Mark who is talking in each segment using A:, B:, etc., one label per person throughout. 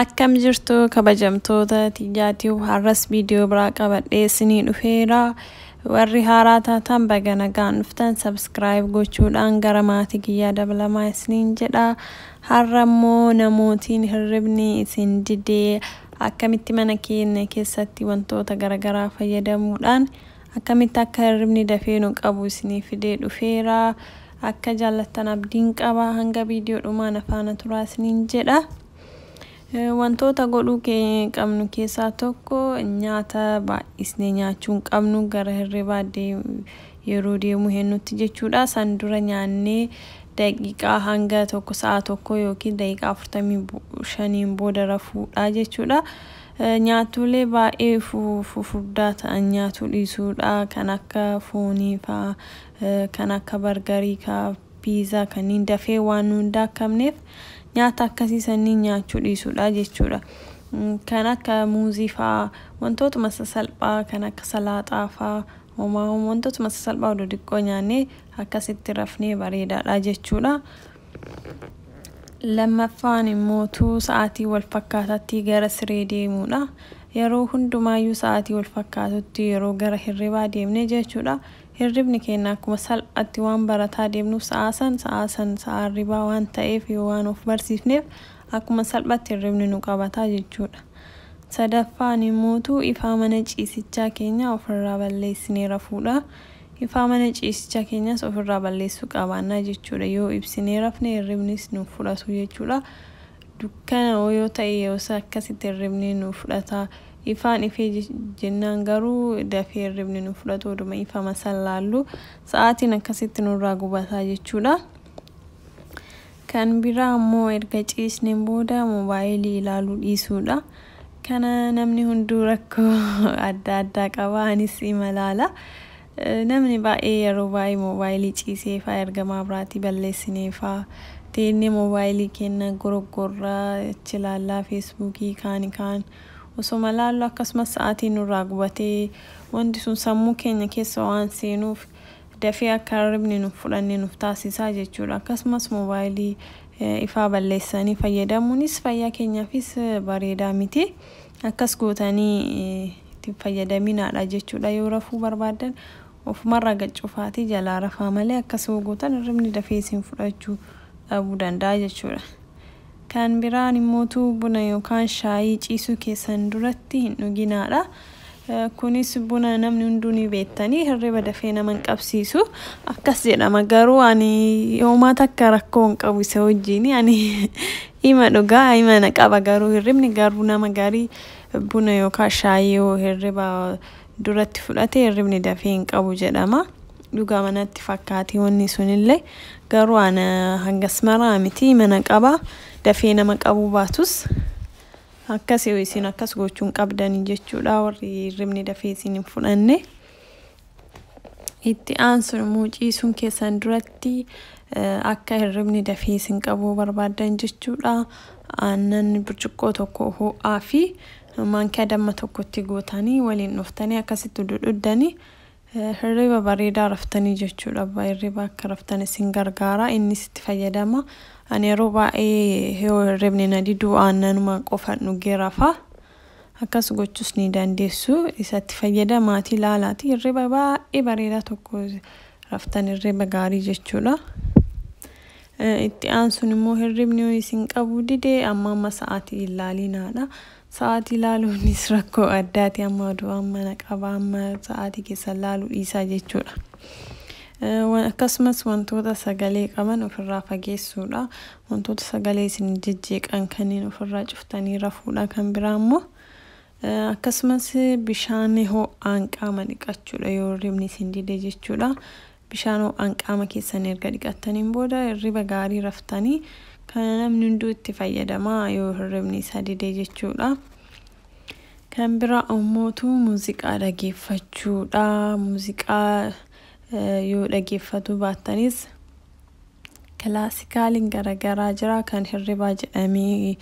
A: Akkam jirtu kabajamtoota tiyyaatiif har'as viidiyoo biraa qabadhee isinii dhufeera. Warri haaraa taatan baga nagaan dhuftan sabskiraayib gochuudhaan gara maatii kiyyaa dabalamaa isiniin jedha. Har'a immoo namootiin hirribni isin didee akkamitti mana keenya keessatti wantoota garagaraa fayyadamuudhaan akkamitti akka hirribni dafee nu qabu isinii fidee dhufeera. Akka jaallattan abdiin qaba. Hanga viidiyoo dhumaa na faana turaa isiniin jedha. Wantoota godhuu qabnu keessaa tokko nyaata baay'isnee nyaachuu hin qabnu gara hirribaa yeroo deemuu hennutti jechuudha san dura nyaannee daqiiqaa hanga tokko sa'a tokko yookiin daqiiqaa 45n booda rafuudha jechuudha. Nyaattolee baay'ee fufurdaa ta'an nyaatuu dhiisuudha kan akka foonii faa kan akka bargarii kaa piizaa kanniin dafee waan nu hin daakkamneef nyaata akkasii sanniin nyaachuu dhiisuudha jechuudha. Kan akka muuzii faa wantootuma sasalphaa kan akka salaaxaa faa Homaa homaa wantootuma sasalphaa oduu xiqqoo nyaannee akkasitti rafnee bareedaadha jechuudha. Lammaffaan immoo tuu sa'aatii wal fakkaataatti gara siree deemuudha. Yeroo hundumaayyuu sa'aatii wal fakkaatutti yeroo gara hirribaa deemne jechuudha. Hirribni keenya akkuma salphaatti waan barataa deemnuuf sa'aa san sa'aa san sa'aa hirribaa waan ta'eef yoo waan of barsiifneef akkuma salphaatti hirribni nu qabata jechuudha. Sadaffaan immootu ifaa mana ciisichaa keenyaa ofirraa balleessinee rafuudha. Ifaa mana ciisichaa keenyaas ofirraa balleessuu qabaanna jechuudha. Yoo ibsinee rafne hirribnis nuuf fudhatu jechuudha. Dukkana oo yoo ta'e yeroos akkasitti hirribni nu fudhata. Ifaan ifee je- jennaan garuu dafee hirribni nu fudhatu oduma ifama san laallu sa'aatiin akkasitti nurraa gubata jechuudha. Kan biraa ammoo erga ciisneen booda mobaayilii ilaaluu dhiisuudha. Kana namni hunduu rakkoo adda addaa qaba. Anis imalaala. Namni baay'ee yeroo baay'ee mobaayilii ciisee faa erga maabraatii balleessinee faa teennee mobaayilii keenna goroggorra, achi laallaa feesbuukii kaani kaan osoma laallu akkasumas sa'aatii nurraa gubatee wanti sun sammuu keenya keessa waan seenuuf dafee akka hirribni nun fudhanne nuf taasisa jechuudha. Akkasumas mobaayilii ifaa balleessanii fayyadamuunis fayyaa keenyaafis bareedaa miti. Akkas gootanii itti hin fayyadaminaadha jechuudha. Yoo rafuu barbaaddan ofumarraa gad cufaatii jalaa rafaa malee akkas yoo gootan hirribni dafee isin fudhachuu dhabuu danda'a jechuudha. Kan biraan immoo utuu buna yookaan shaayii ciisuu keessan duratti hin dhuginaa dha. Kunis buna namni hunduu ni beektanii hirriba dafee nama hin qabsiisu. Akkas jedhama garuu ani homaa takka rakkoo hin qabu isa wajjin ani ima dhugaa ima na qaba garuu hirribni garuu nama garii buna yookaan shaayii yoo hirriba duratti fudhate hirribni dafee hin qabu jedhama. Dhugama natti fakkaati wanni sunillee garuu ana hangas maraa miti mana qaba dafee nama qabuu baatus akkas yoo isin akkas gochuu hin qabdanii jechuudha warri hirribni dafee isin hin fudhanne. Itti aansuun immoo ciisuun keessan duratti eh, akka hirribni dafee isin qabuu barbaaddan jechuudha. Aannan burcuqqoo tokko ho'aa fi Maankiyaa damma tokko itti gootanii waliin dhuftanii akkasitti udu dhuddanii hirriba bareedaa raftanii jechuudha. Abbaa hirriba akka raftan isin gargaara innis itti fayyadama. Ani yeroo baay'ee yoo hirribni na diduu aannanuma qofan dhugee rafa. Akkas gochuus ni dandeessu. Isatti fayyadamaatii laalaatii hirriba baay'ee bareedaa tokko raftan hirriba gaarii jechuudha. Itti aansuun immoo hirribni yoo isin qabuu dide amma amma sa'aatii hin laaliinaadha. Sa'aatii laaluunis rakkoo addaati amma oduu amma na qaba amma sa'aatii keessan laaluu dhiisaa jechuudha. Akkasumas wantoota sagalee qaban ofirraa fageessuudha. Wantoota sagalee isin jejjeeqan kanneen ofirraa cuftanii rafuudha kan biraa immoo. Akkasumas bishaan ho'aan qaama dhiqachuudha yoo hirribni isin dide jechuudha. Bishaan ho'aan qaama keessan erga dhiqattaniin booda hirriba gaarii raftanii kana namni hunduu itti fayyadamaa yoo hirribni isa dide jechuudha. Kan biraa ammootu muuziqaa dhageeffachuudha. Muuziqaa yoo dhageeffatu baattanis Kilaasikaaliin garagaraa jira. Kan hirribaa jedhamee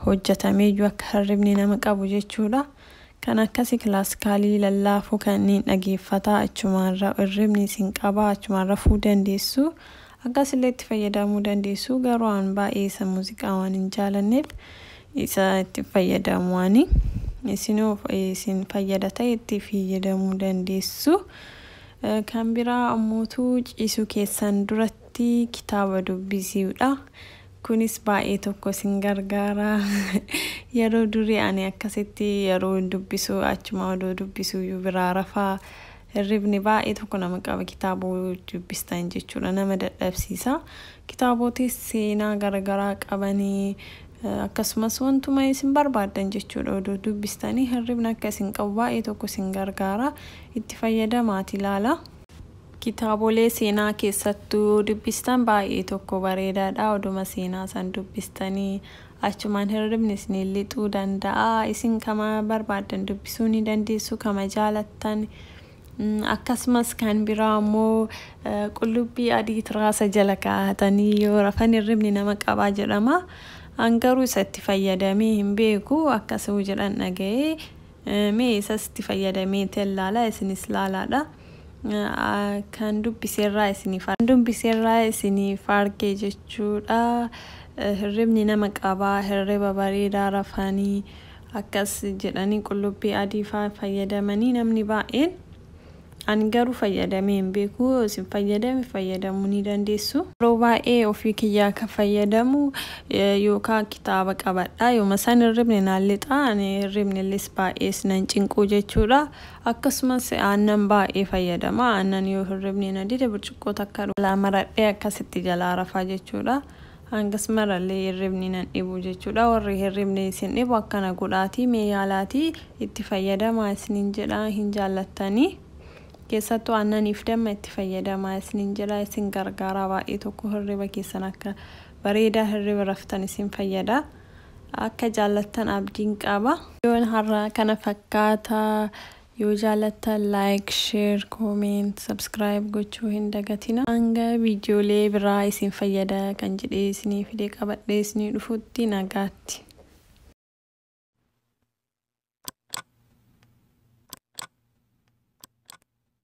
A: hojjetameeyyuu akka hirribni nama qabu jechuudha. Kan akkasii kilaasikaalii lallaafuu kanneen dhageeffataa achumaan ra- hirribni isin qabaa achumaan rafuu dandeessu. Akkasillee itti fayyadamuu dandeessu. Garuu an baay'ee isa muuziqaa waan hin jaalanneef isa itti hin fayyadamu ani. Isinoo isin fayyada ta'e itti fayyadamuu dandeessu. Kan biraa ammootu ciisuu keessan duratti kitaaba dubbisiudha. Kunis baay'ee tokko isin gargaara. Yeroo durii ani akkasitti yeroo dubbisu achuma odoo dubbisuuyyuu biraa rafa. Hirribni baay'ee tokko nama qaba kitaaba dubbistan jechuudha nama dadhabsiisa. Kitaabootis seenaa garagaraa qabanii akkasumas wantuma isin barbaaddan jechuudha odoo dubbistanii hirribni akka isin qabu baay'ee tokko isin gargaara. Itti fayyadamaati ilaalaa. Kitaabolee seenaa keessattu yoo dubbistan baay'ee tokko bareedaadha. Oduma seenaa san dubbistanii achumaan hirribni isiniin lixuu danda'a. Isin kama barbaaddan dubbisuu ni dandeessu kama jaalattan. Akkasumas kan biraa immoo qullubbii adii tiraasa jala kaa'atanii yoo rafan hirribni nama qabaa jedhama. An garuu isa itti fayyadamee hin beeku akkasuu jedhan dhaga'ee. Mee isas itti fayyadamee tel laala isinis laalaadha kan dubbiserraa isiniif arge. Kan dubbiserraa isiniif arge jechuudha hirribni nama qaba hirriba bareedaa rafanii akkas jedhanii qullubbii adii faa fayyadamanii namni baay'een. Ani garuu fayyadamee hin beeku yoo isin fayyadame fayyadamuu ni dandeessu. Yeroo baay'ee ofii kiyyaa kan fayyadamu yookaan kitaaba qabadha. Yooma san hirribni naan lixa. Ani hirribnillis baay'ees nan cinquu jechuudha. Akkasumas aannan baay'ee fayyadama. Aannan yoo hirribni na dide burcuqqoo takka dhugaa maradhee akkasitti jalaa rafaa jechuudha. Hangas marallee hirribni nan dhibu jechuudha. Warri hirribni isin dhibu akkana godhaatii mee yaalaatii itti fayyadamaa isiniin jedha hin jaallattanii. Keessattuu aannaniif damma itti fayyadamaa isiniin jedha isin gargaaraa baay'ee tokko hirriba keessan akka bareedaa hirriba raftan isin fayyada. Akka jaallattan abdiin qaba. Yoon har'aa kana fakkaata Yoo jaalattan like, share, comment, subscribe gochuu hin dagatina. Hanga viidiyoolee biraa isin fayyada kan jedhee isinii fidee qabadhee isinii dhufutti nagaatti.